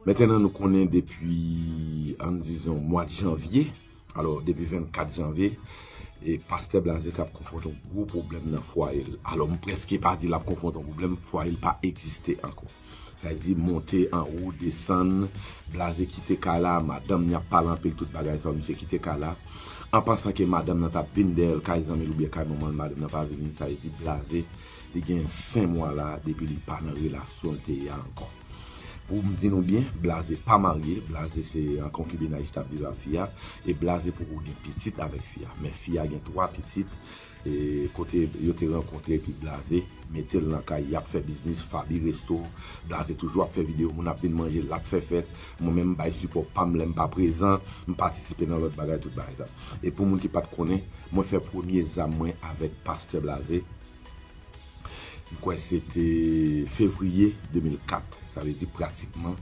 Metenan nou konnen depi an dizon mwa janvye, alò depi 24 janvye, e pastè Blaze kap konfwonte yon gwo pwoblèm nan fwaye l. Alò m prèske pa di lap konfwonte yon pwoblèm, fwaye l pa egziste ankò. Sa vle di monte an wo, desann, Blaze kite kay la, madanm ni ap pale anpil tout bagay sa yo misye kite kay la, an pansan ke madanm nan tap vin dèyè l kay zanmi l oubyen kay manman l, madanm nan pa vini, sa vle di Blaze Li gen 5 mwa la depi li pa nan relasyonl te ye a ankò. Poum di nou byen blaze pa marye blaze se an konkibinaj li tap viv a fi a e blaze poko gen pitit avèk fi a men fi a gen 3 pitit e kote yo te rankontre epi blaze metel nan kay yap fè biznis faby resto blaze toujou ap fè video moun ap vin manje lap fè fèt mwen menm m bay sipò pam lèm pa prezan m patisipe nan lòt bagay tout bagay sa e pou moun ki pat konnen mwen fè premye zam mwen avèk pastè blaze. M kwè se te fevriye 2004, sa vle di pratikman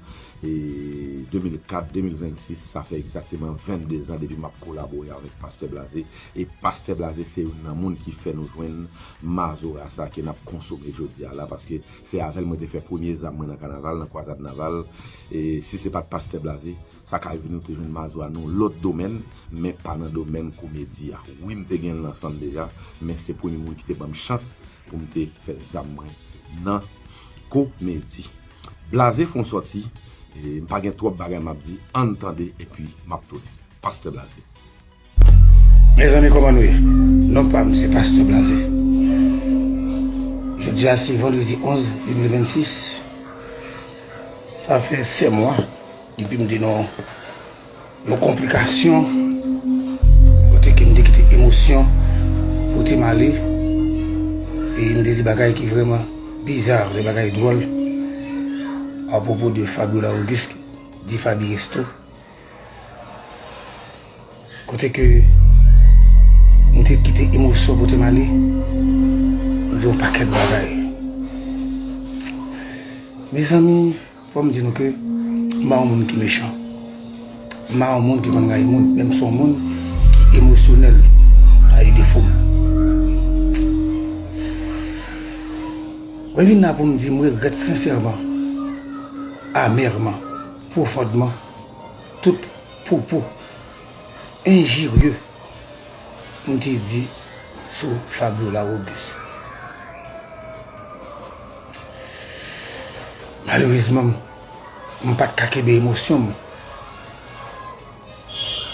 2004, 2026, sa fè egzakteman 22 zan depi m ap kolabore avèk Pastè Blaze. E Pastè Blaze se youn nan moun ki fè nou jwenn mazora sa ke n ap konsome jodi a la paske se avè l mwen te fè premye zam mwen nan kanaval, nan kwazad naval. E si se pa t Pastè Blaze. Sa ka rive nou te jwenn Mazora nan yon lòt domèn, men pa nan domèn komedi a. Wi m te gen lansan deja, men se premye moun ki te banm chans pou m te fè zam mwen nan komedi. Blaze fon sòti, m pa gen twòp bagay m ap di, ann tande epi m ap tounen. Pastè Blaze. Mezanmi koman nou ye non pam se pastè blaze jodia se vandredi 11 2026 sa fè 7 mwa depim te nan yon konplikasyon kote kem te kite emosyon potem ale e m te di bagay ki vreman bizar de bagay dròl apropo de Fabiola Auguste di Faby Resto. Kote ke mwen te kite emosyon pote m ale, m viv yon pakèt bagay. Mezanmi, fò m di nou ke m pa yon moun ki mechan. M pa yon moun ki konn rayi moun, men m se yon moun ki emosyonèl pa yon defo. Mwen vin la pou m di m regrèt sensèman, amèrman, pwofondman. Tout pwopo enjirye m te di sou Fabiola Auguste. Malerezman m pat ka kenbe emosyon m.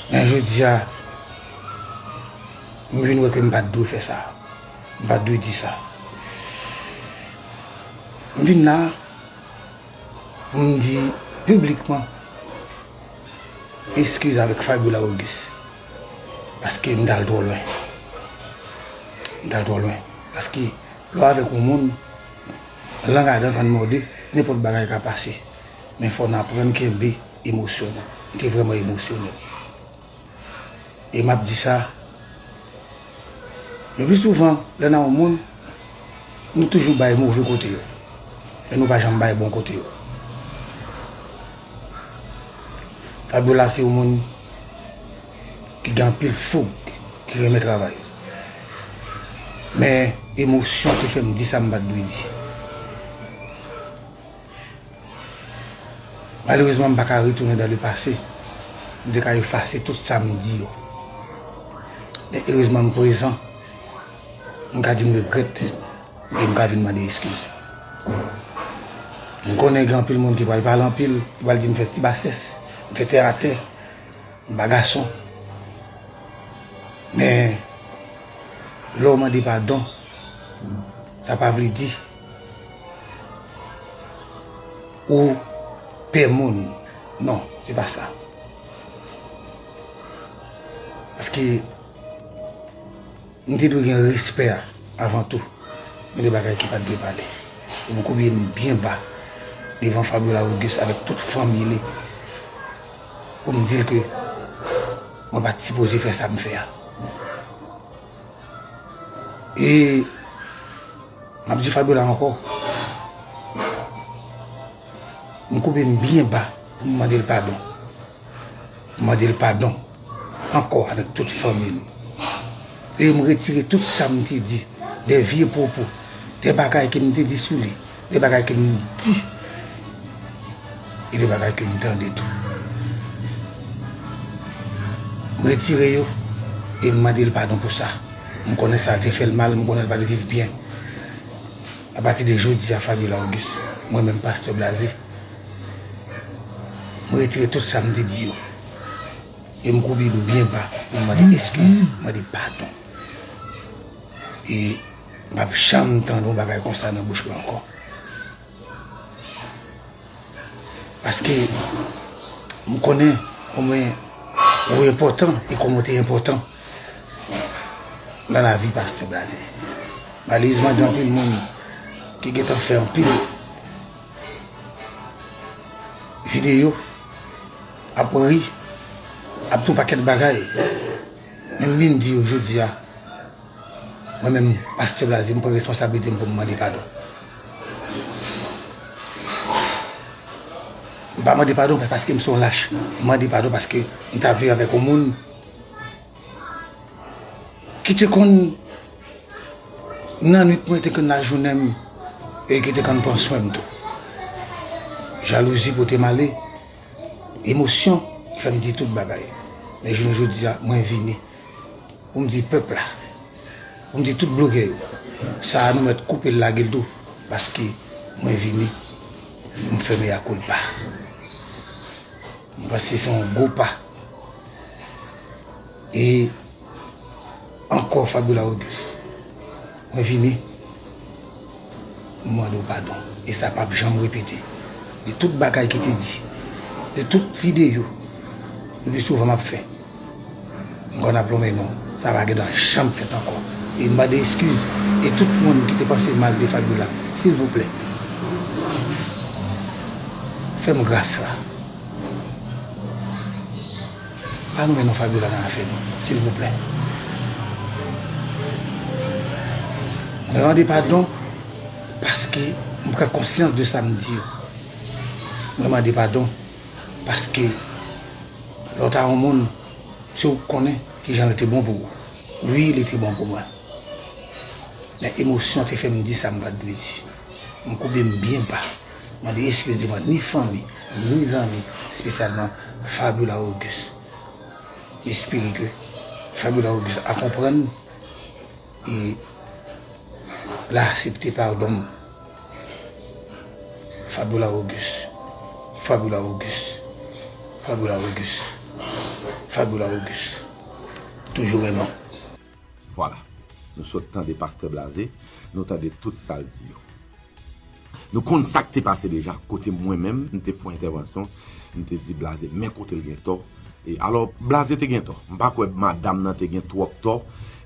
Men jodi a m vin wè ke m pat dwe fè sa. M pat dwe di sa. M vin la M di piblikman eskiz avèk Fabiola Auguste paske m t al twò lwen. M t al twò lwen. Paske lè w avèk yon moun, lang a dan pa n mòde, nenpòt bagay ka pase. Men fò n aprann kenbe emosyon nou. M te vrèman emosyonèl. E m ap di sa, le pli souvan lè nan yon moun, nou toujou bay move kote yo, men nou pa janm bay bon kote yo. Fabiola se yon moun ki gen anpil foug, ki renmen travay. Men emosyon te fè m di sa m pa t dwe di. Malerezman m pa ka retounen dan le pase, m te ka efase tout sa m di yo. Men erezman m prezan, m ka di m regrèt e m ka vin mande eskiz. M konnen gen anpil moun ki pral pale anpil, ki pral di m fè ti basès, m fè tè atè, m pa gason. Men lè w mande padon, sa pa vle di. Ou pè moun. Non, se pa sa. Paske, nou te dwe gen respè avan tou. Gen de bagay ki pa dwe pale. E mwen koube m byen ba devan Fabiola Auguste avèk tout fanmi li pou m di l ke mwen pa t sipoze fè sa m fè a. E m ap di Fabiola ankò, m koube m byen ba pou m mande l padon. M mande l padon ankò avèk tout fanmi l. E m retire tout sa m te di, de vye pwopo, de bagay ke m te di sou li. Gen bagay ke m di, e gen bagay ke m tande tou. M retire yo, e m mande l padon pou sa. M konnen sa te fè l mal, m konnen l pa te viv byen. A pati de jodi a Fabiola Auguste, mwen menm Pastè Blaze, m retire tout sa m te di yo. E m koubi m byen ba pou m mande eskiz, mande padon. E. M pap janm tande yon bagay konsa nan bouch mwen ankò. Paske m konnen konbyen ou enpòtan e konbyen ou te enpòtan nan lavi pastè Blaze. Malerezman gen anpil moun ki gen tan fè anpil videyo ap ri, ap di yon pakèt bagay men m vin di yo jodi a. Mwen menm Pastè Blaze m pran responsablite m pou m mande padon. M pa mande padon paske m se yon lach. M mande padon paske m ta viv avèk yon moun ki te konn nan nwit mwen, te konn nan jounen m e ki te konn pran swen m tou. Jalouzi pote m ale, emosyon fè m di tout bagay. Men jounen jodi a mwen vini. Pou m di pèp la, pou m di tout blogè yo, sa a nou mèt koupe l lage l tou paske mwen vini pou m fè mea culpa. Mwen panse se yon gwo pa e ankò Fabiola Auguste mwen vini. M mande w padon e sa pap janm repete. De tout bagay ki te di, de tout videyo nou te souvan ap fè, m konn ap lonmen non w. Sa pa gen dwa janm fèt ankò. E m mande eskiz e tout moun ki te panse mal de Fabiola. Silvouplè, fè m gras la. Pa renmen non Fabiola nan afè nou silvouplè mwen mande padon paske m pran konsyans de sa m di yo mwen mande padon paske lè w ta yon moun se ou k konnen kijan l te bon pou ou wi li te bon pou mwen men emosyon te fè m di sa m pat dwe di m koube m byen ba. mande eskiz devan ni fanmi, ni zanmi, espesyalman Fabiola Auguste. M espere ke Fabiola Auguste a konprann e l a asepte padon m. Fabiola Auguste, Fabiola Auguste, Fabiola Auguste, Fabiola Auguste, toujou renmen w. Vwala. Nou sot tande pastè blaze, nou tande tout sa l di yo. Nou konn sa k te pase deja, kote mwen menm, m te fon entèvansyon, m te di blaze men kote l gen tò. E alò, blaze te gen tò. M pa kwè madam nan te gen twòp tò.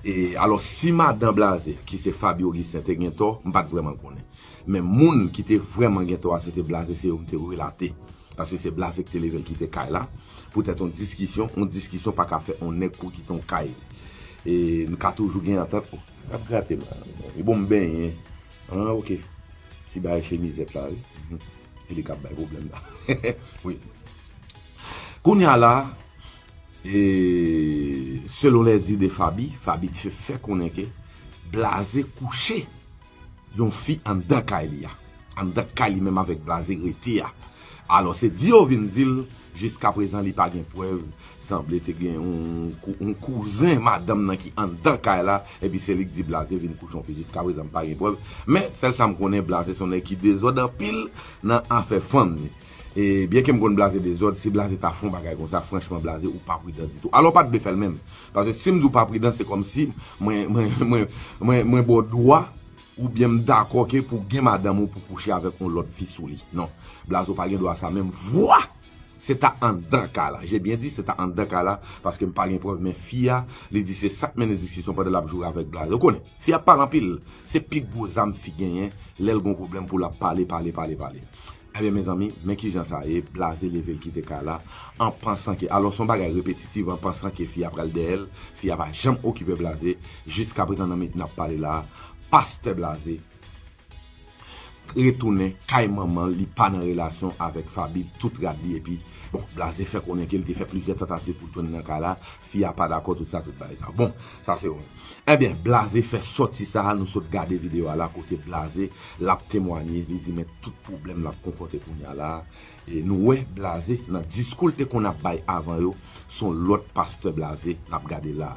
E alò, si madan blaze, ki se Faby Augustin, te gen tò, m pa t vrèman konnen. Men moun ki te vrèman gen tò a, se te blaze, se yo m te relate. Paske se blaze ki te leve l kite kay la poutèt yon diskisyon, yon diskisyon pa ka fè yon nèg kouri kite yon kay e nou ka toujou gen antant nou. Nap grate m la e bon m benyen an ok ti bagay chemizèt la wi e li kap bay pwoblèm la wi kounya la e selon lèdi de Faby, Faby te fè konnen ke blaze kouche. Yon fi anndan kay li a. Anndan kay li menm avèk blaze rete a. Alò se di yo vin di l jiskaprezan li pa gen prèv sanble te gen yon kouzen madanm nan ki anndan kay la epi se li k di blaze vin kouche yon fi jiskaprezan m pa gen prèv men sèl sa m konnen blaze se yon nèg ki dezòd anpil nan afè fanm ni e byenke m konn blaze dezòd si blaze ta fon bagay konsa franchman blaze ou pa pridan ditou alò w pat dwe fè l menm Paske si m di w pa pridan se kòmsi mwen ba w dwa oubyen m dakò ke pou gen madanm ou pou kouche avèk yon lòt fi sou li. Non. Blazo pa gen dwa sa menm vwa! Se ta anndan ka la. J'ai bien dit se ta anndan ka la paske m pa gen prèv men fi a li di se sa k mennen diskisyon pandan l ap joure avèk Blaze. Ou konnen, fi a pale anpil. Se pi gwo zam fi genyen lè l gen yon pwoblèm pou l ap pale, pale, pale, pale. Ebyen mezanmi, men kijan sa ye, Blaze leve l kite kay la, an pansan ke, alò son bagay repetitiv, an pansan ke fi a pral dèyè l, fi a pa janm okipe Blaze, jiskaprezan nan minit nap pale la a, Pastè Blaze retounen kay manman l, li pa nan relasyon avèk Faby, tout rad li epi, bon, Blaze fè konnen ke li te fè plizyè tantativ pou l tounen nan kay la, Fi a pa dakò tout sa tout bagay sa bon sa se yon Ebyen blaze fè sòti sa nou sot gade video a la kote blaze lap temwanye li di men tout pwoblèm lap konfwonte kounya la e nou wè blaze nan diskou l te konn ap bay avan yo son lòt pastè blaze nap gade la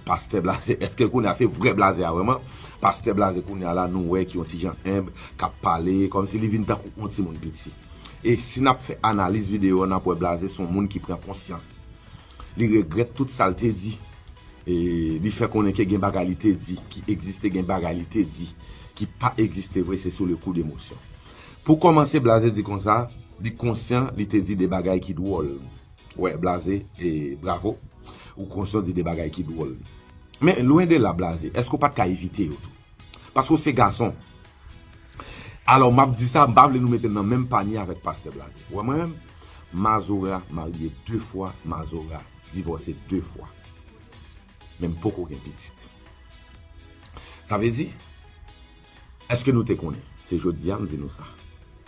pastè blaze eske kounya se vrè blaze a vrèman pastè blaze kounya la nou wè ki yon ti jan enb kap pale kòmsi li vin tankou yon timoun piti e si nap fè analiz video a nap wè blaze son moun ki pran konsyans Li regrèt tout sa l te di. E li fè konnen ke gen bagay li te di ki egziste, gen bagay li te di ki pa egziste vre, se sou le kou d'emosyon. Pou kòmanse, Blaze di konsa, li konsyan li te di de bagay ki dwòl. Wè, Blaze, e bravo, ou konsyan w di de bagay ki dwòl. Men, lwen de la, Blaze, èske ou pa t ka evite yo tou? Paske ou se gason, Alò map di sa, m pa vle nou mete m nan menm panye avèk pastè Blaze. Ou wè mwen menm? Mazora marye 2 fwa, Mazora divòse 2 fwa. Men m poko gen pitit. Sa vle di, èske nou te konnen? Se jodi a m di nou sa.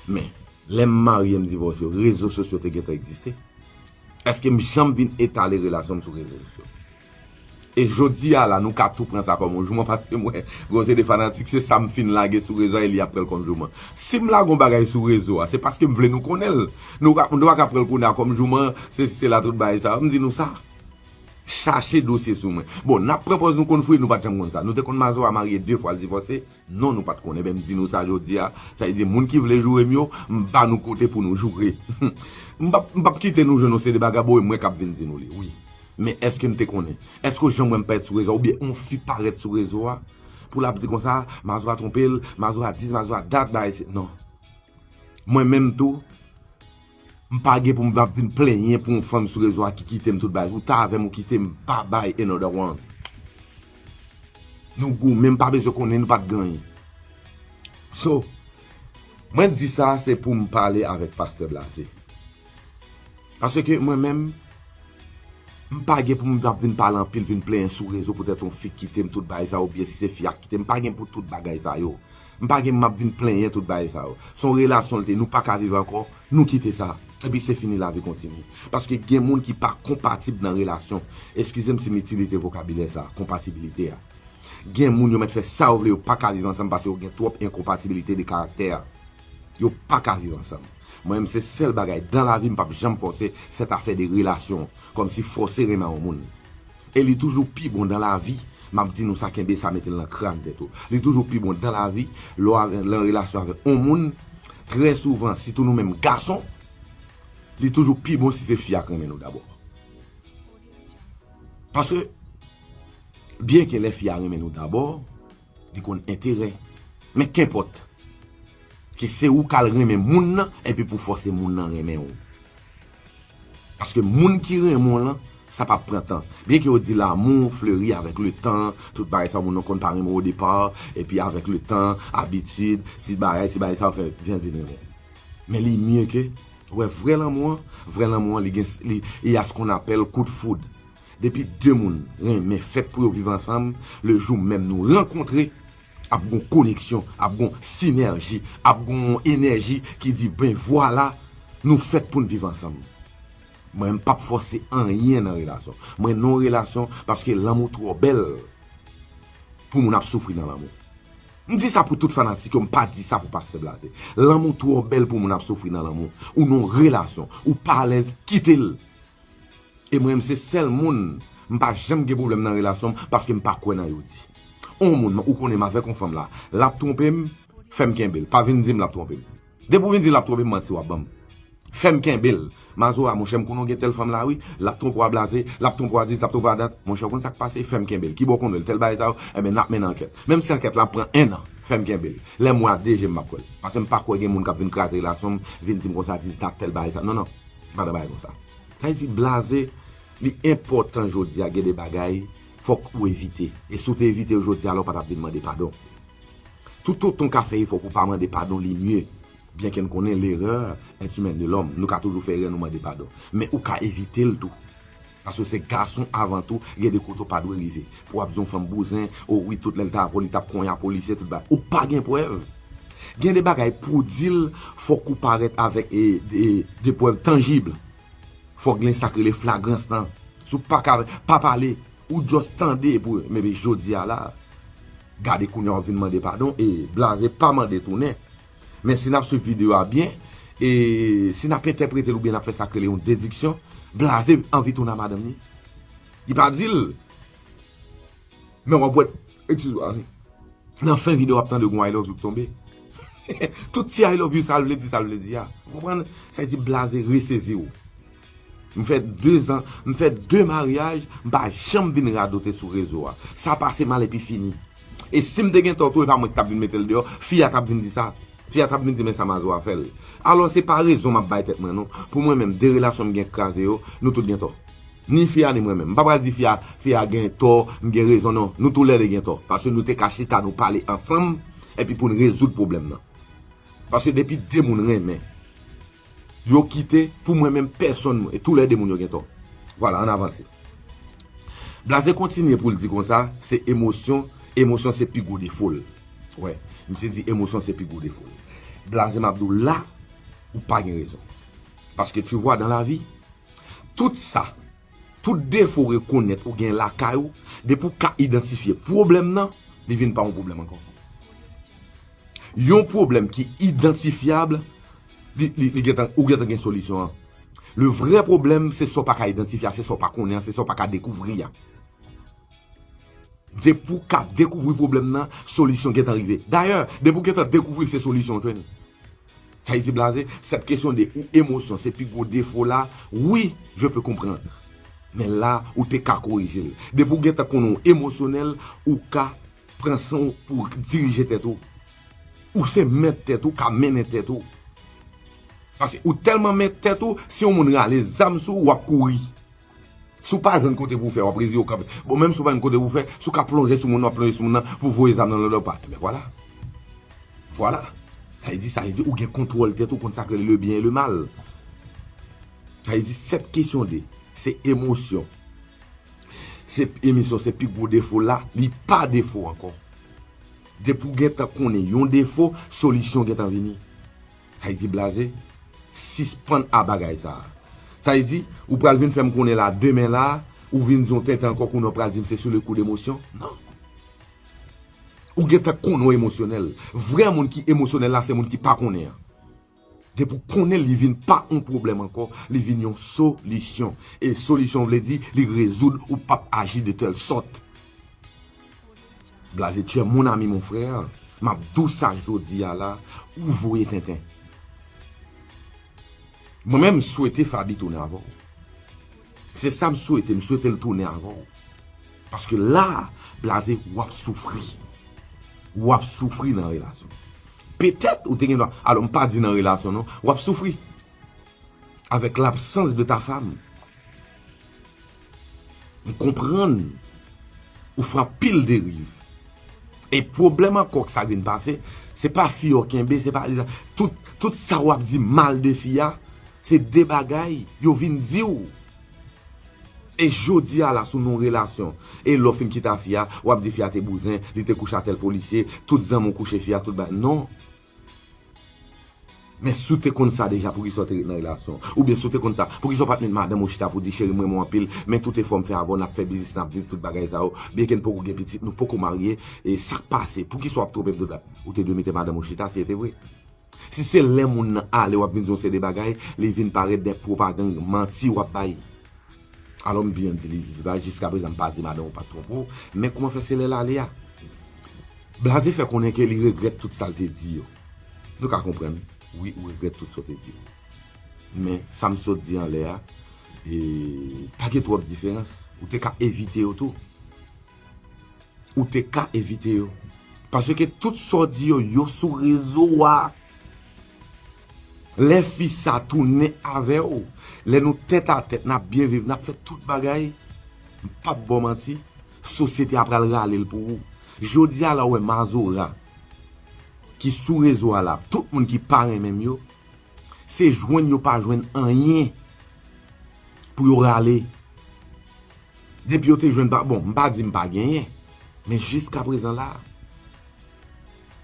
Men, lè m marye m divòse yo, rezo sosyo te gentan egziste? Èske m janm vin etale relasyon m sou rezo sosyo? E jodi a la nou ka tou pran sa kòm yon jouman paske m wè gen yon seri de fanatik se sa m fin lage sou rezo a e li ap pran l kòm jouman. Si m lage yon bagay sou rezo a se paske m vle nou konnen l. Nou pa ka pran l kounye a kòm jouman, sesi sela tout bagay sa yo. M di nou sa, chache dosye sou mwen. Bon, n ap pran pòz nou konn fouye, nou pa t janm konn sa. Nou te konn Mazora marye 2 fwa l divòse. Non nou pat konnen men m di nou sa jodi a, sa vle di moun ki vle joure m yo m ba nou kote pou nou joure m pap m pap kite nou jwenn yon seri bagay bon e mwen kap vin di nou li wi men èske m te konnen èske w janm wè m parèt sou rezo a oubyen yon fi parèt sou rezo a pou lap di konsa mazora twonpe l mazora di mazora dat bagay si non mwen menm tou. M pa gen pou m ap vin plenyen pou yon fanm sou rezo a ki kite m tout bagay. Ou ta avè m ou kite m pa bay another one. Nou goumen m pa bezwen konnen nou pa t genyen. So, mwen di sa se pou m pale avèk Pastè Blaze. Paske mwen menm, m pa gen pou m ap vin pale anpil, vin plenyen sou rezo poutèt yon fi kite m tout bagay sa yo oubyen si se fi a ki kite m. M pa gen pou tout bagay sa yo. M pa gen map vin plenyen tout bagay sa yo. Son relasyon l te nou paka viv ankò, nou kite sa. Epi se fini lavi kontinye. Paske gen moun ki pa konpatib nan relasyon. Eskize m si m itilize vokabilè sa, konpatibilite a. Gen moun yo mèt fè sa yo vle yo paka viv ansanm paske yo gen twòp enkonpatibilite de karaktè. Yo paka viv ansanm. Mwen menm se sèl bagay dan lavi m pap janm fòse sèt afè de relasyon. Kòmsi fòse renmen yon moun. E li toujou pi bon dan lavi, map di nou sa kenbe sa metel nan kran tèt ou. Li toujou pi bon dan lavi lè w lan relasyon avèk on moun, trè souvan sitou nou menm gason, li toujou pi bon si se fi a k renmen nou dabò. Paske byenke lè fi a renmen nou dabò. Li konn enterè. Men kenpòt. Ke se ou kal renmen moun nan epi pou fòse moun nan renmen ou. Paske moun ki renmen w lan, sa pap pran tan. Byen ke yo di l'amour fleuri avec le tan, tout bagay sa moun nan konn pa renmen w au départ, epi avèk le tan, abitid, ti bagay, ti bagay sa ou fè, vin vin renmen l. Men li mye ke, wè vrè lanmou an, vrè lanmou an li gen, li, il y a ce qu'on appelle coup de foudre. Depi 2 moun renmen fèt pou yo viv ansanm, le jou menm nou rankontre, ap gon koneksyon, ap gon sinèji, ap gon yon enèji ki di ben vwala, nou fèt pou n viv ansanm. Mwen m pap fòse anyen nan relasyon. Mwen non relasyon paske lanmou twò bèl pou moun ap soufri nan lanmou. M di sa pou tout fanatik yo, m pa di sa pou Pastè Blaze. Lanmou twò bèl pou moun ap soufri nan lanmou. Ou non relasyon, ou pa alèz, kite l. E mwen menm se sèl moun m pa janm gen pwoblèm nan relasyon m paske m pa kwè nan yo di. On moun ou konnen m avèk on fanm la, lap twonpe m, fè m kenbe l. Pa vin di m lap twonpe m. Depi ou vin di lap twonpe m manti wap ban m. Fè m kenbe l. Mazora, monchè m konnen ou gen tèl fanm la wi, lap twonpe w a blaze, lap twonpe w a dis, lap twonpe w a dat. Monchè ou konn sak pase, fè m kenbe l. Kibò w konn wè l, tèl bagay sa yo, enben nap mennen ankèt. Menm si ankèt la ap pran ennan, fè m kenbe l. Lè m wè a de je m map kwè l. Paske m pa kwè gen moun kap vin kraze relasyon m, vin di m konsa, dis dat, tèl bagay sa. Non non. Se pa de bagay konsa. Sa vle di blaze li enpòtan jodi a gen de bagay fòk ou evite. E si w te evite yo jodi a la w pa tap vin mande padon. Toutotan w ka fè efò pou w pa mande padon li mye. Byen ke n konnen l'erreur est humaine de l'homme. Nou ka toujou fè erè nou mande padon. Men ou ka evite l tou. Paske w se gason avan tou, gen de kote w pa dwe rive. Pou w ap di yon fanm bouzen, o wi tout lè l ta avè w li t ap konya polisye tout bagay. Ou pa gen prèv. Gen de bagay pou w di l, fòk ou parèt avèk de prèv tanjib. Fòk gen sa k rele flagrans lan. Si w pa ka, pa pale. Ou just tande epi w, men jodi a la, gade kounya w vin mande padon e blaze pa mande tounen. Men si n ap swiv videyo a byen, e si n ap entèprete l oubyen n ap fè sa k rele yon dediksyon, Blaze anvi tounen a madanm ni. Li pa di l, men w ap wè, ekskizwa wi, nan fen videyo a w ap tande yon I love you k tonbe. Tout ti I love you sa l vle di sa l vle di a. Ou konprann? Sa vle di Blaze resezi w. M fè 2 zan, m fè 2 maryaj, m pa janm vin radote sou rezo a. Sa pase mal epi fini. E si m te gen tò tou e pa mwen ki t ap vin mete l deyò, fi a t ap vin di sa. Fi a t ap vin di men sa Mazo a fè l. Alò se pa rezon m ap bay tèt mwen non. Pou mwen menm, 2 relasyon m gen k kraze yo, nou tout gen tò. Ni fi a ni mwen menm. M pa pral di fi a, fi a gen tò, m gen rezon non. Nou tou lè 2 gen tò. Paske nou te ka chita nou pale ansanm epi pou n rezoud pwoblèm nan. Paske depi 2 moun renmen. Yo kite pou mwen menm pèsonn mwen e tou lè 2 moun yo gen tò. Vwala ann avanse. Blaze kontinye pou l di konsa, se emosyon, emosyon se pi gwo defo l. Wè, misye di emosyon se pi gwo defo l. Blaze m ap di w la, ou pa gen rezon. Paske tu vwa dan lavi, tout sa. Tout defo ou rekonèt ou gen lakay ou, depi ou ka idantifye pwoblèm nan, li vin pa yon pwoblèm ankò. Yon pwoblèm ki idantifyab, ou gentan gen solisyon an. Le vrè pwoblèm, se sa ou pa ka idantifye a, se sa ou pa konnen an, se sa ou pa ka dekouvri a. Depi ou ka dekouvri pwoblèm nan, solisyon gentan rive. Dayè, depi ou gentan dekouvri l, se solisyon ou jwenn. Haiti blaze, cette question de ou émotion se pi gwo defo w la, oui je peux comprendre. Men la ou te ka korije l. Depi w gentan konnen w emosyonèl, ou ka pran san w pou w dirije tèt ou. Ou se mèt tèt ou, ka mennen tèt ou. Paske ou tèlman mèt tèt ou, si yon moun rale zam sou ou, w ap kouri. Si w pa jwenn kote pou w fè, w ap reziye w kanpe. Bon, menm si w pa jwenn kote pou w fè, si w ka plonje sou moun nan, w ap plonje sou moun nan pou w voye zam nan lòt pa. Enben vwala. Vwala. Sa vle di, sa vle di ou gen kontwòl tèt ou, ou konn sa k rele le byen e le mal. Sa vle di 7 kesyon 2, se emosyon. Se emisyon, se pi gwo defo la, li pa defo ankò. Depi w gen tan konnen yon defo, solisyon gen tan vini. Haiti blaze, sispann a bagay sa a. Sa vle di, ou pral vin fè m konnen la demen la a, ou vin di yon tenten ankò kounye a ou pral di m se sou le kou de emosyon? Non! Ou gen tan konnen w emosyonèl. Vrè moun ki emosyonèl la se moun ki pa konnen an. Depi ou konnen li vin pa yon pwoblèm ankò, li vin yon solisyon. E solisyon vle di li rezoud ou pap aji de tèl sòt. Blaze tu es mon ami mon frère map diw sa jodia la ou voye tenten. Mwen menm m swete Faby tounen avèw. Se sa m swete, m swete l tounen avèw. Paske la, blaze w ap soufri. W ap soufri nan relasyon. Petèt ou te gen dwa, alò m pa di nan relasyon non, w ap soufri avèk labsans de ta fam. M konprann ou fè anpil deriv. E pwoblèm ankò k Sagreen pase, se pa fi yo kenbe, se pa li sa. Tout sa w ap di mal de fi a, se de bagay yo vin di w. E jodi a la sou non relasyon. E lè w fin kite a fi a, w ap di fi a te bouzen, li te kouche a tèl polisye, tout zanmi w kouche fi a, tout bagay. Non! Men si w te konn sa deja poukisa w te ret nan relasyon an? Oubyen si w te konn sa, poukisa w pa t met madanm ou chita pou w di, cheri m renmen w anpil, men tout efò m fè avè w, n ap fè biznis, n ap viv tout bagay sa yo, byenke n poko gen pitit, nou poko marye, e sa k pase? Poukisa w ap twonpe m tout la? Ou te dwe mete madanm ou chita si e te vre. Si se lè moun nan ale w ap vin di yon seri de bagay, li vin parèt dè pwopagand, manti w ap bay. Alò m byen di li, li di ba jiska prezan m pa di madan ou pa t twonpe w, men kouman fè se lè l ale a? Blaze fè konnen ke li regrèt tout sa l te di yo. Nou ka konprann, wi ou regrèt tout sa w te di yo. Men, sa m sot di anlè a, pa gen twòp diferans. Ou te ka evite yo tou. Ou te ka evite yo. Paske tout sa w di yo, yo sou rezo a. Lè fi sa tounen avè w, lè nou tèt a tèt, n ap byen viv, n ap fè tout bagay, m pa p ba w manti, sosyete a pral rale l pou ou. Jodi a la w wè Mazora ki sou rezo a la, tout moun ki pa renmen m yo, se jwenn yo pa jwenn anyen pou yo rale. Depi yo te jwenn pa, bon m pa di m pa genyen, men jiska prezan la,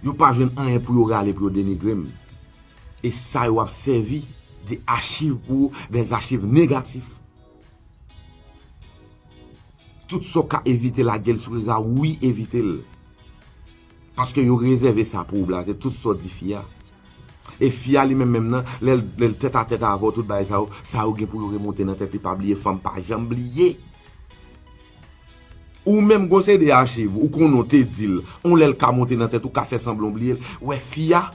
yo pa jwenn anyen pou yo rale pou yo denigre m. E sa yo ap sèvi de achiv pou, des achiv negatif. Tout sa w ka evite lage l sou rezo a, wi evite l. Paske yo rezève sa pou ou blaze tout sa w di fi a. E fi a li menm menm nan, lè l tèt a tèt avè w tout bagay sa yo, sa yo gen pou yo remonte nan tèt li pa bliye fanm pa janm bliye. Ou menm gon seri de achiv ou konnen w te di l, on lè l ka monte nan tèt ou ka fè sanblan w bliye l, wè fi a,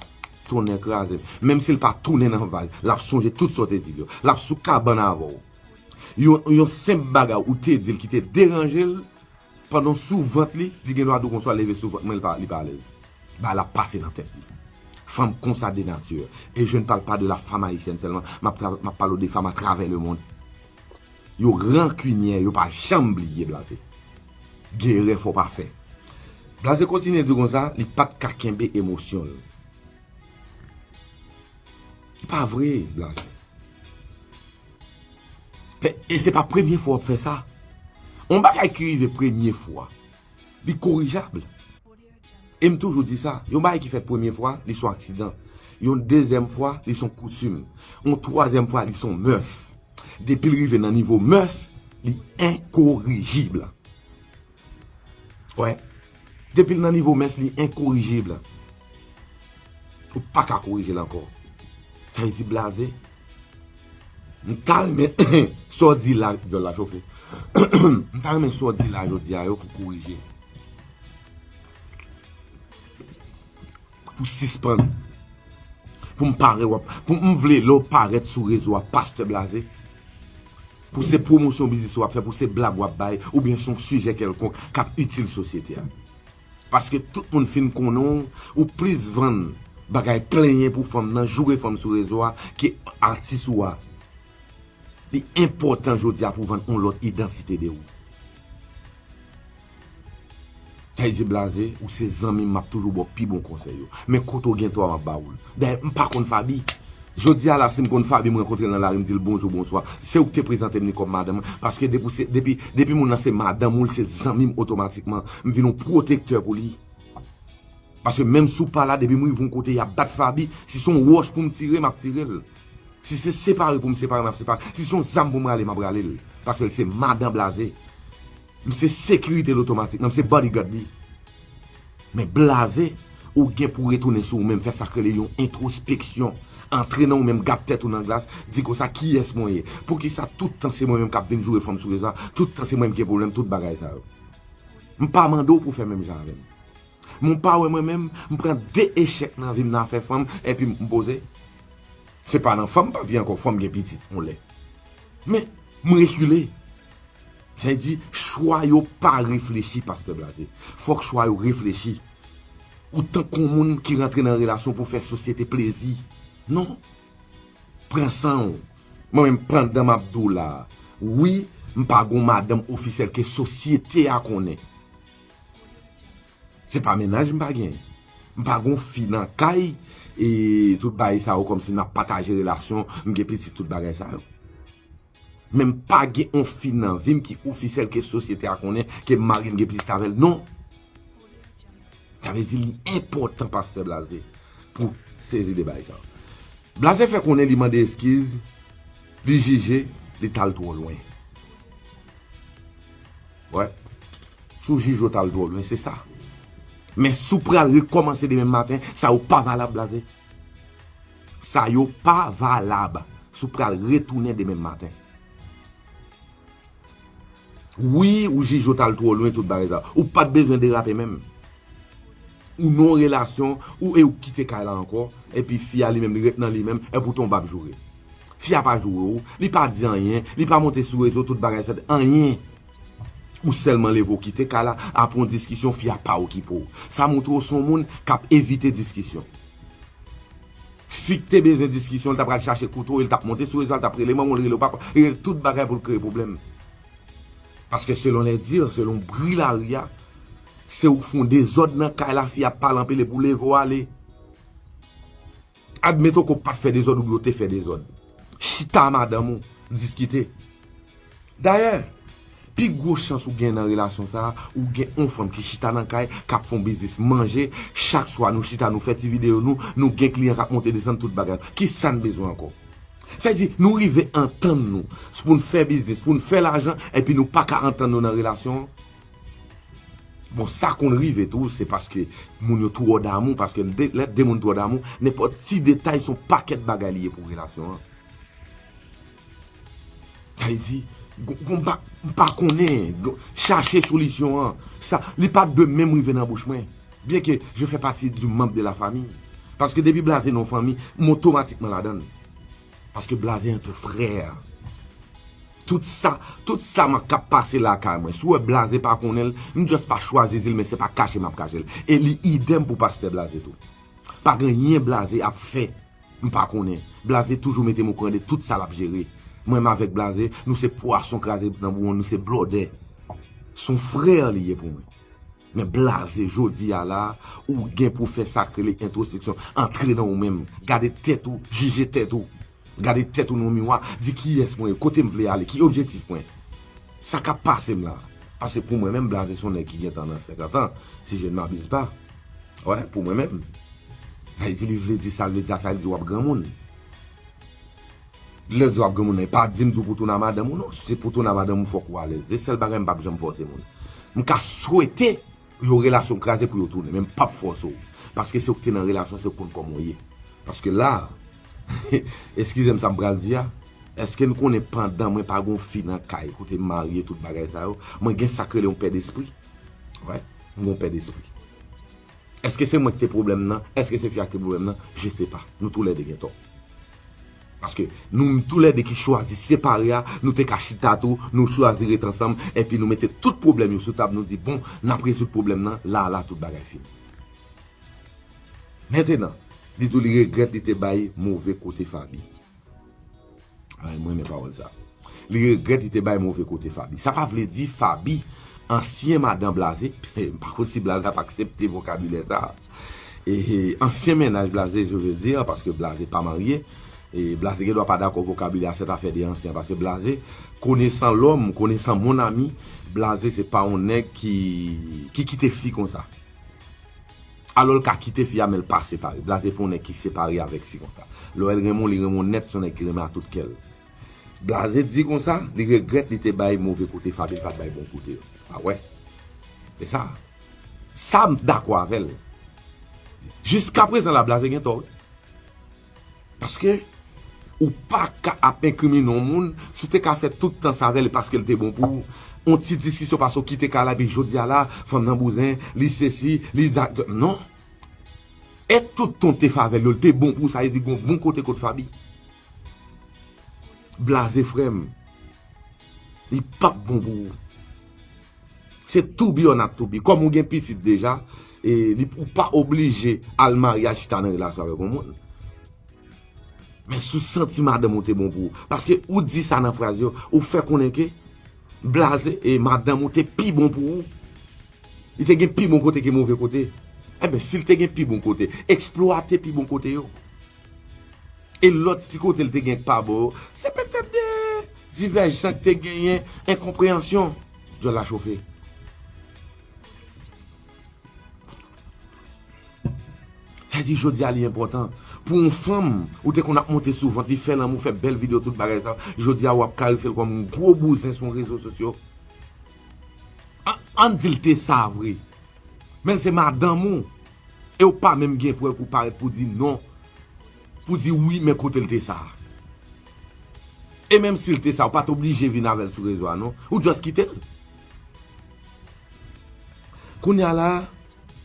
tonnè kraze m, menm si l pa tounen nan vag, l ap sonje tout sa w te di l yo. L ap sou kabann avè w. Yon senp bagay ou te di l ki te deranje l, Pandan sou vant li, li gendwa tou konswa leve sou vant mwen li pa alèz. Bagay la pase nan tèt li. Fanm konsa de nature. E je ne parle pas de la femme haïtienne seulement, map pale w de fanm a travè le mond. Yo rankinyè, yo pa janm bliye blaze. Gen erè fò w pa fè. Blaze kontinye di konsa, li pat ka kenbe emosyon l. E pa vre blaze. E se pa premye fwa wap fè sa. On bagay ki rive premye fwa, li korijab. E m toujou di sa, yon bagay ki fèt premye fwa, li son aksidan. Yon dezyèm fwa, li son koutim. Yon twazyèm fwa, li son mès. Depi l rive nan nivo mès, li enkorijibl. Wè, depi l nan nivo mès li enkorijib. Ou pa ka korije l ankò. Sa vle di blaze? M ta renmen sa w di la, dyòl la chofe. M ta renmen sa w di la jodi a yo pou korije. Pou sispann. Pou m pare wap. Pou m vle lè w parèt sou rezo a pastè blaze. Pou se pwomosyon biznis wap fè, pou se blag wap bay, oubyen son sijè kèlkonk kap itil sosyete a. Paske tout moun fin konnen w, ou plis vann bagay plenyen pou fanm nan, joure fanm sou rezo a ke atis ou a. Li enpòtan jodi a pou vann on lòt idantite de ou. Hey ze blaze ou se zanmim map toujou baw pi bon konsèy yo men kote ou gen tò a map ba oul dayè m pa konn Faby jodi a la sim konn Faby m rankontrel nan lari m dil bonjou bonswa se ou ki te prezante m li kòm madanm mwen paske depi ou se depi depi moun nan se madanm ou li se zanmim otomatikman m vin yon pwotektè pou li paske menm si ou pa la depi m rive yon kote yap bat Faby si son wòch poum tire map tirel si se separe poum separe map separe si son zam poum rale map ralel paskel se madan blaze. M se sekirite l otomatikman, m se bodyguard li. Men blaze, ou gen pou retounen sou ou menm, fè sa k rele yon entwospeksyon, antre nan ou menm, gad tèt ou nan glas, di konsa kiyès mwen ye? Poukisa tout tan se mwen menm k ap vin joure fanm sou rezo a, tout tan se mwen ki gen pwoblèm, tout bagay sa yo. M pa mande w pou w fè menm jan avè m. Men w pa wè mwen menm, m pran de echèk nan vi m nan afè fanm, enpi m poze. Se pa nan fanm m pa p viv ankò, fò m gen pitit yon lè. Men, m rekile. Sa di chwa yo pa reflechi pastè blaze. Fok chwa yo reflechi. Ou tank on moun ki rantre nan relasyon pou fè sosyete plezi. Non. Pran san ou. Mwen menm pandan map di w la a. Wi m pa gon madanm ofisyèl ke sosyete a konnen. Se pa mennaj m pa gen. M pa gon fi nan kay e tout bagay sa yo kom si nap pataje relasyon, m gen pitit tout bagay sa yo. Men m pa gen on fi nan vim ki ofisyèl ke sosyete a konnen ke marim gen plis kave l non. Sa vle di li enpòtan pastè Blaze pou sezi de bagay sa yo. Blaze fè konnen li mande eskiz, li jije, li tal twò lwen. Wè, si w jije w tal twò lwen se sa. Men si w pral rekòmanse demen maten, sa yo pa valab Blaze. Sa yo pa valab si w pral retounen demen maten. Wi ou jij yo t al twò lwen tout bagay sa. Ou pat bezwen derape menm. Ou nan yon relasyon ou e ou kite kay la ankò epi fi a li menm li ret nan li menm epi ou tonbe ap joure. Fi a pa joure ou, li pa di anyen, li pa monte sou rezo tout bagay sa, anyen. Ou sèlman leve ou kite kay la apre yon diskisyon fi a pa okipe ou. Sa montre ou se yon moun k ap evite diskisyon. Fik te bezwen diskisyon li ta pral chache kouto e li tap monte sou rezo a li tap rele manmanw li rele papa li rele tout bagay poul kreye pwoblèm paske selon les dires selon bri lari a se ouk fon dezòd nan kay la fi a pale anpil epi ou leve ou ale admeton ke ou pat fè dezòd oubyen ou te fè dezòd chita a madanm ou diskite Dayè, pi gwo chans ou gen nan relasyon sa a, ou gen yon fanm ki chita nan kay, k ap fè yon biznis manje, chak swa nou chita nou fè ti videyo nou, nou gen kliyan k ap monte desann tout bagay. Kisa n bezwen ankò? Sa di, nou rive antann nou pou n fè biznis, pou n fè lajan, epi nou pa ka antann nou nan relasyon an? Bon, sa konn rive tou, se paske moun yo twò damou, paske lè de moun twò damou, nenpòt ti detay se yon pakèt bagay li ye pou relasyon an. Ayiti gon pa m pa konnen chache solisyon an sa li pa t dwe menm rive nan bouch mwen byen ke je fè pati di manb de la fami paske depi blaze non fanmi m otomatikman ladan l paske blaze antre frè tout sa tout sa m k ap pase lakay mwen si w wè blaze pa konnen l m just pa chwazi di l men se pa kache m ap kache l e li idèm pou pastè blaze tou pa gen yen blaze ap fè M pa konnen. Blaze toujou mete m okouran de tout sa l ap jere. Mwen m avèk Blaze, nou se pwason kraze nan bouwon, nou se blòdè. S on frè li ye pou mwen. Men Blaze, jodi a la a, ou gen pou w fè sa k rele entwospeksyon. Antre nan ou menm. Gade tèt ou, jije tèt ou. Gade tèt ou nan yon miwa, di kiyès mwen ye, kote m vle ale, ki objektif mwen. Sa k ap pase m la a. Paske pou mwen menm, Blaze s on nèg ki gentan nan senkantan, si je n m'abize pa. Wè pou mwen menm. Lè di li vle di sal vle di a sa vle di wap granmoun. Lèw di wap granmoun nan epa dim tou pou touna madanm ou non si se pou touna madanm ou fòk ou alèz se sèl bagay mpap janm fòse moun mka swete pou yon relasyon kraze pou yo tounen men mpap fòse w paske se ou ki te nan relasyon se ou ki konn kòman w ye paske la eskizem sam pral di a eske n konnen pandan mwen pa gon fi nan kay kote m marye tout bagay sa yo mwen gen sak rele yon pè despri wè. Mon pè despri. Eske se mwen ki te pwoblèm nan, eske se fi a ki te pwoblèm nan, je se pa. Nou tou lè 2 gen tò. Paske nou tou lè 2 ki chwazi separe a, nou te ka chita tou, nou chwazi ret ansanm, enpi nou mete tout pwoblèm yo sou tab, nou di bon, n ap rezoud pwoblèm nan, la a la tout bagay fini. Mentenan, li di w li regrèt li te bay move kote Faby. Ay mwen men pawol sa. Li regret li te bay move kote Fabi. Sa pa vle di Fabi ansyen madan blaze. M pa konn si blaze ap aksepte vokabilè sa. Ansyen mennaj blaze je veux dire paske blaze pa marye. Blaze gen dwa pa dakò vokabilè a sèt afè de ansyen paske blaze konesan lòm, konesan mon ami, blaze se pa yon nèg ki kite fi konsa. Alò l ka kite fi a men l pa separe. Blaze pou yon nèg ki separe avèk fi konsa. Lò el renmen w li renmen w nèt se yon nèg ki renmen a tout kè l. Blaze di konsa li regrèt li te bay move kote Faby li pa t bay bon kote yo. A wè. Se sa. Sa m dakò avè l. Jiskaprezan la Blaze gen tò wi. Paske ou pa ka ap enkrimine yon moun, si w te ka fè tout tan sa avè l e paske l te bon pou ou, yon ti diskisyon pase w kite kay la epi jodi a la, fanm nan bouzen, li sesi, li da, non. E tout tan w te fè avè l yo, l te bon pou ou sa vle di gen yon bon kote kot Faby? Blaze frè m, li pap bon pou ou. Se to be or not to be. Kòm ou gen pitit deja, e li pou pa oblije al marye al chita nan relasyon avèk yon moun. Men sou santi madanm ou te bon pou ou. Paske ou di sa nan fraz yo, ou fè konnen ke blaze e madanm ou te pi bon pou ou. Li te gen pi bon kote ke move kote. Eben, si li te gen pi bon kote, eksplwate pi bon kote yo. E lòt ti kote l te gen pa bon yo, se petèt de divèjsan k te genyen, enkonpreyansyon. Dyòl la chofe. Sa di jodi a li enpòtan pou yon fanm ou te konn ap monte sou vant li, fè lanmou, fè bèl videyo tout bagay sa, jodi a w ap kalifye l kòm yon gwo bouzen sou rezo sosyo? An n di l te sa vre, men l se madanm ou. Ew pa menm gen prèv ou parèt pou di non pou di wi men kotel te sa. E menm sil te sa ou pat oblije vin avèl sou rezo a non ou just kitel. Kounya la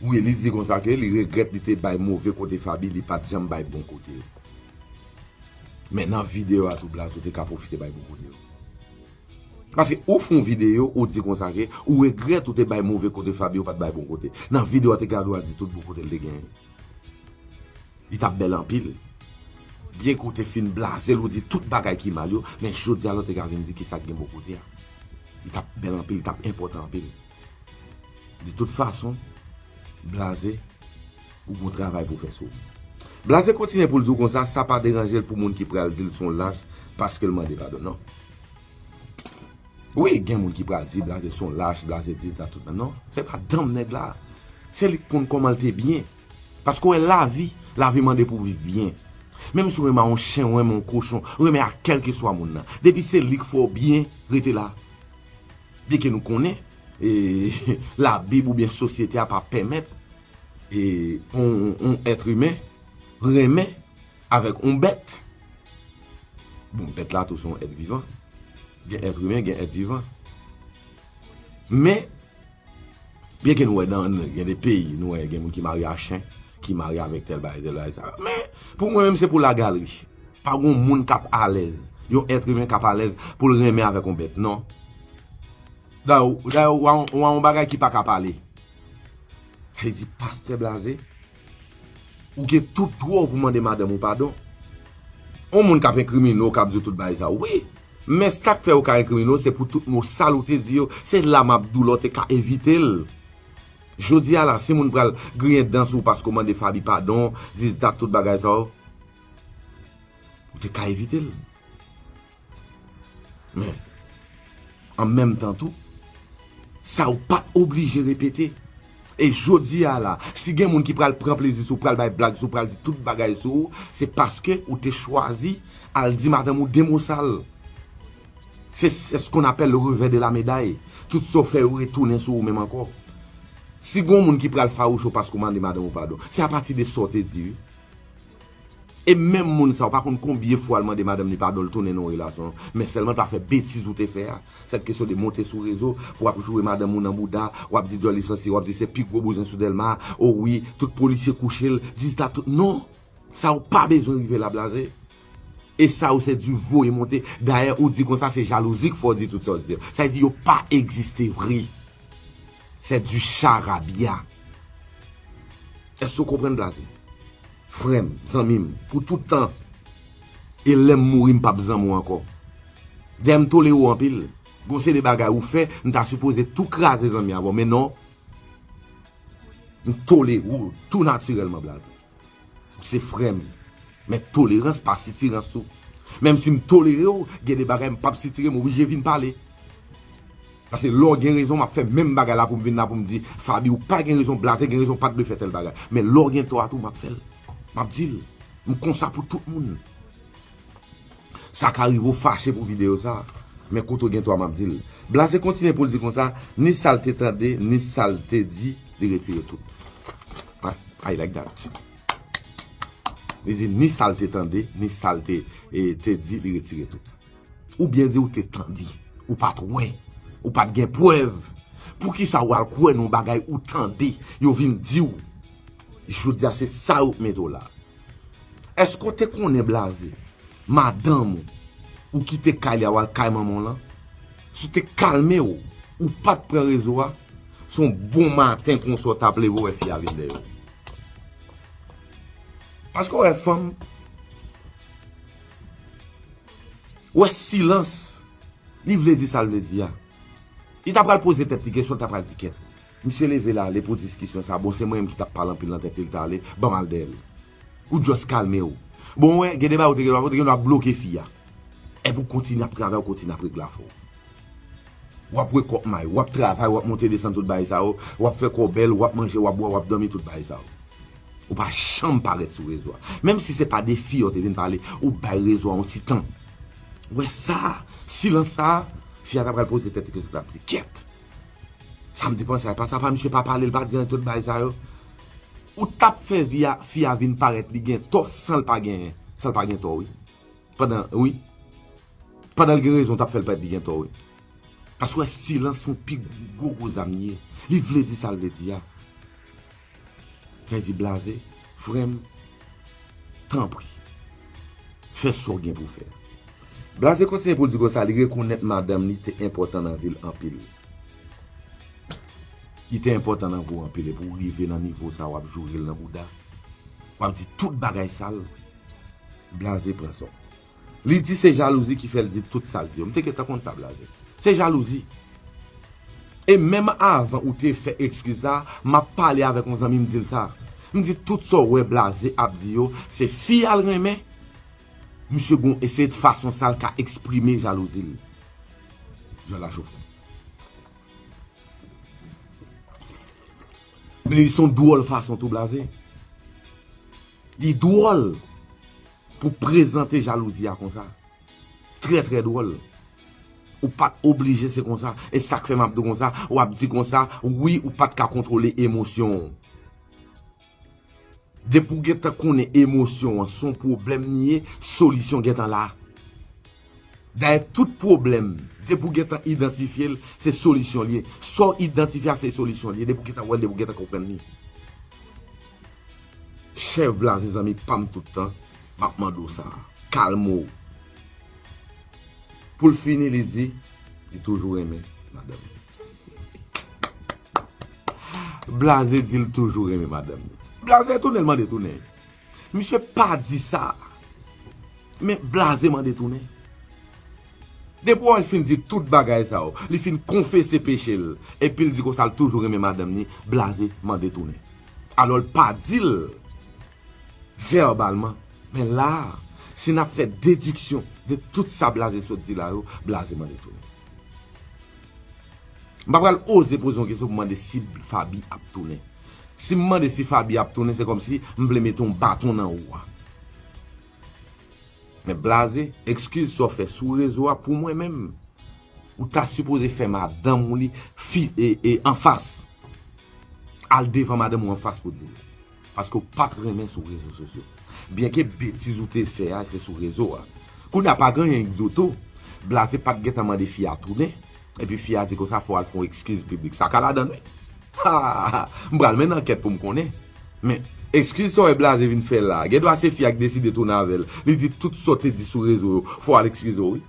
wi li di konsa ke li regrèt li te bay move kote Faby li pat janm bay bon kote yo. Men nan video a tou blaze ou te ka pwofite bay bon kote yo. Paske ou fon video ou di konsa ke ou regret ou te bay move kote Fabio pat bay bon kote. Nan video a te gade wa di tout bon kote li te genyen. Li tap bel anpil. Byen ke ou te fin blazel ou di tout bagay ki mal yo men jodi a la ou te ka vin di kisa ki gen bon kote a. Li tap bel anpil, li tap enpotan anpil. De tout fason blaze ou gon travay pou fe sou. Blaze kontinye poul di w konsa sa pa deranjel pou moun ki pral dil son lach paskel mande padon nan. Wi gen moun ki pral di blaze son lach blaze dis dat tout nan non se pa danm nèg la se li konn koman l te byen paske ou wè lavi lavi mande pou viv byen menm si ou renmen yon chen ou renmen yon kochon ou renmen ak kèlkeswa moun nan depi se li k fè w byen rete la byen ke nou konnen ee labib ou byen sosyete a pa pèmèt ee yon èt imen renmen Avèk yon bèt, bon bèt la tou son èt vivan, gen èt imen, gen èt vivan. Men, byen ke nou wè nan gen de peyi, nou wè gen moun ki marye a chen, ki marye avèk tèl bagay, tèl bagay sa. Men, pou mwen menm se pou la galri. Pa gen yon moun kap alèz, yon èt imen kap alèz pou l renmen avèk yon bèt, non. Dayè, ou wè yon bagay ki pa ka pale. Sa vle di, pastè blaze. Ou gen tout dwa w pou mande madanm ou padon. On moun k ap enkrimine w k ap di w tout bagay sa yo, wi. Men sa k fè yo ka enkrimine w se pou tout mo sal ou te di yo, se la m ap di w la w te ka evite l. Jodi a la, si moun pral griyen dan sou ou paske w mande Faby padon, di dat tout bagay sa yo, ou te ka evite l. Men, an menm tan tou, sa ou pa oblije repete. E jodi a la, si gen moun ki pral pran plezi sou ou, pral bay blag sou ou, pral di tout bagay sou ou, se paske ou te chwazi al di madanm ou de mo sal. Se se s kon apèl le revè de la meday. Tout sa ou fè yo retounen sou ou menm ankò. Si gen yon moun ki pral fawouch ou paske ou mande madanm ou padon, se apati de sa ou te di wi. E menm moun sa ou pa konn konbyen fwa l mande madanm li padon l tounen nan yon relasyon an, men sèlman l pa fè betiz ou te fè a. Sèt kesyon de monte sou rezo pou w ap joure madanm ou nan bouda, w ap di dyòl li santi, w ap di se pi gwo bouzen sou Dèlma, o wi, tout polisye kouche l, dizta tout, non! Sa ou pa bezwen rive la blaze. E sa ou se di voye monte, dayè ou di konsa se jalouzi k fè w di tout sa w di a. Sa vle di yo pa egziste vre. C'est du charabia. Eske ou konprann blaze? Frè m, zanmi m, pou tout tan. E lè m mouri m pap zanmi w ankò. Dayè m tolere w anpil. Gen yon seri bagay ou fè, m ta sipoze tou kraze zanmi avè w men non. M tolere w tou natirèlman blaze. Ou se frè m, men tolerans pa sitirans tou. Menm si m tolere w, gen de bagay m pap sitire, m oblije vin pale. Pase lè w gen rezon, m ap fè menm bagay la pou m vin la pou m di, Faby ou pa gen rezon, Blaze gen rezon, ou pa t dwe fè tèl bagay. Men lè w gen tò a tou, m ap fè l. M ap di l. M konsa pou tout moun. Sa ka rive w fache pou videyo sa, men kote w gen tò a m ap di l. Blaze kontinye pou l di konsa, ni sa l te tande, ni sa l te di, li retire tout. Ah I like that. Li di ni sal te tande, ni sal te di li retire tout. Ou byen di ou te tande, ou pat wè, ou pat gen pwèv. Poukisa ou al kwè nan bagay ou tande, yo vin di ou. Jodi a se sa yo k mete w la. Eske w te konnen blaze madanm ou ou kite kay li a wal kay manman w lan si w te kalme w ou pat pran rezo a se yon bon maten konsa w tap leve w wè fi a vin dèyè w paske w wè fanm w wè silans li vle di sa l vle di a li ta pral poze tèt li kesyon li ta pral di kèt. Misye leve lale pou diskisyon sa bon se mwen menm ki tap pale anpil nan tèt li li tale banm al dèyèl ou just kalmew bon ou wè gen de bagay ou te gen dwa fè ou te gen dwa bloke fi a epi ou kontinye ap travay ou kontinye ap regle afè w wap wè kòk may wap travay wap monte desann tout bagay sa yo wap fè kòw bèl wap manje wap bwè wap dòmi tout bagay sa yo ou pa janm parèt sou rezo a menm si se pa de fi a ou te vin pale ou bay rezo a yon ti tan wè sa silans sa fi a ta pral poze tèt li kesyon li tap di kèt. Sam te panse a epa sa pa misye pa pale li pa di anyen tout bagay sa yo ou tap fè vi a fi a vin parèt li gen tò sanl pa genyen sanl pa gen tò wi pandan wi pandan li gen rezon ou tap fèl parèt li gen tò wi pasw wè silans ou pi gro gro zam li ye li vle di sal vle di a. Pèdi blaze frèm tanpri fè sa w gen pou w fè. Blaze kontinye pou l di konsa li rekonèt madanm li te enpòtan nan vi l anpil. Li te enpòtan nan vi w anpil epi w rive nan nivo sa w ap joure l nan bouda, w ap di tout bagay sal. Blaze pran sa w. Li di se jalouzi ki fèl di tout sal di yo. M te gentan konn sa blaze. Se jalouzi. E menm avan ou te fè ekskiz sa, map pale avèk yon zanmi m dil sa. M di tout sa w wè blaze ap di yo, se fi a l renmen. Misye gon e se fason sa l ka eksprime jalouzi l. Jan la chofon. Men li son dwòl fason tou blaze. Li dwòl. Pou prezante jalouzi a konsa. Trè trè dwòl. Ou pat oblije se konsa. E sak fè map di w konsa. Wap di konsa wi ou pat ka kontwole emosyon w. Depi w gentan konnen emosyon an son pwoblèm li ye, solisyon gentan la. Dayè tout pwoblèm depi w gentan idantifye l, se solisyon li ye. Sa w idantifye a se solisyon li ye depi w gentan wè l, depi w gentan konprann li. Chèv blaze zanmi pam tout tan map mande w sa kalme w pou l fini li di li toujou renmen madanm li blaze di l toujou renmen madanm li blaze tounen l mande tounen misye pa di sa men blaze mande tounen. Depi wè l fin di tout bagay sa yo, li fin konfese peche l, epi l di konsa l toujou renmen madanm ni, Blaze mande tounen. Alò l pa di l vèbalman, men la a, si n ap fè dediksyon de tout sa Blaze sot di la yo, Blaze mande tounen. M pa pral oze poze yon kesyon pou mande si Faby ap tounen. Si m mande si Faby ap tounen, se kòmsi m vle mete yon baton nan wou a. Nèg blaze, ekskiz sa w fè sou rezo a pou mwen menm, ou ta sipoze fè madanm ou li fi e anfas. Al devan madanm ou anfas pou di l. Paske w pat renmen sou rezo sosyo. Byenke betiz ou te fè a se sou rezo a. Kounye a pa genyen k di w tou, blaze pat gentan mande fi a tounen, Epi fi a di konsa fò al fon ekskiz piblik sa ka ladann wi haa m pral menn ankèt poum konnen men ekskiz sa w wè blaze vin fè la gen dwa se fi a ki deside tounen avèl li di tout sa w te di sou rezo yo fò al ekskize w wi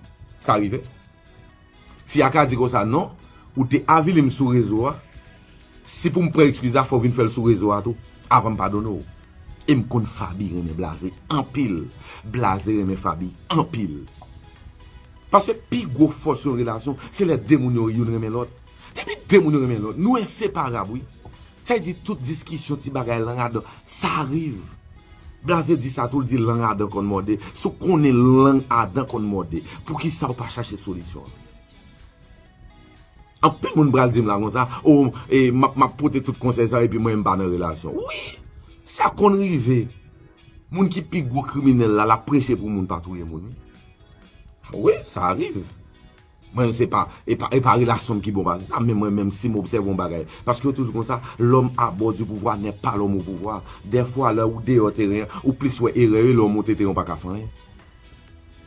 sa rive fi a ka di konsa non ou te avilim sou rezo a. Si poum pran excuse la fòw vin fèl sou rezo a tou avan m padone w e m konn Faby renmen blaze anpil blaze renmen Faby anpil paske pi gwo fòs yon relasyon se lè 2 moun yo youn renmen lòt depi 2 moun yo renmen lòt nou enseparab wi sa di tout diskisyon ti bagay lang a dan sa riv blaze di sa tou l di lang a dan konn mòde si w konnen lang a dan konn mòde poukisa w pa chache solisyon an. Anpil moun pral dim la konsa oh map pote tout konsèy sa epi mwen menm pa nan relasyon wi sa konn rive moun ki pi gwo kriminèl la lap preche pou moun pa touye moun wi sa arive mwen menm se pa epa relasyon ki bon pase sa men mwen menm sim obsève yon bagay paske yo toujou konsa lòm a bò di pouvwa nè pa lòm o pouvwa dèfwa lè ou deyò teren an ou plis wè erè yo lè ou monte teren an ou paka fè anyen.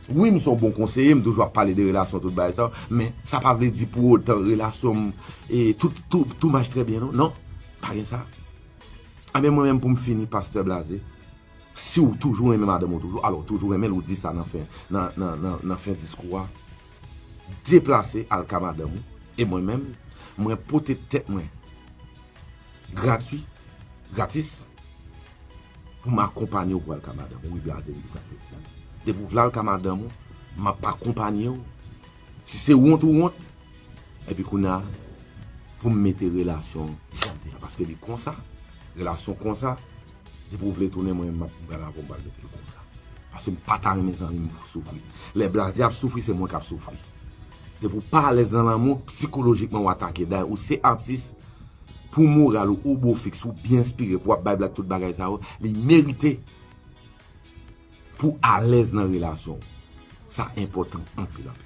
Wi m son bon konseye m toujou ap pale de relasyon tout bagay sa men sa pa vle di pou otan relasyon m tou mach trè byen non non pa gen sa anben mwen menm pou m fini pastè blaze si w toujou renmen madanm w toujou alò toujou renmen l ou di sa nan fen nan fen diskou a deplase al ka madanm w e mwen menm mwen pote tèt mwen gratwi gratis. Pou m akonpanye w pou al ka madanm ou wi blaze m di sa Fredsann. Depi w vle al ka madanm ou m ap akonpanye w. Si se wont ou wont epi kounye a pou m mete relasyon jan l te a paske li konsa relasyon konsa depi w vle tounen mwen m ap pral avè w m pral mete l konsa paske m pa ta renmen zanmi m soufri. Lè blaze ap soufri se mwen k ap soufri. Depi w pa alèz nan lanmou, psikolojikman w atake. Dayè ou se atis, pou moral ou, ou bo fiks, ou byen enspire, pou w ap bay blag tout bagay sa yo, li merite pou w alèz nan relasyon w. Sa enpòtan anpil anpil.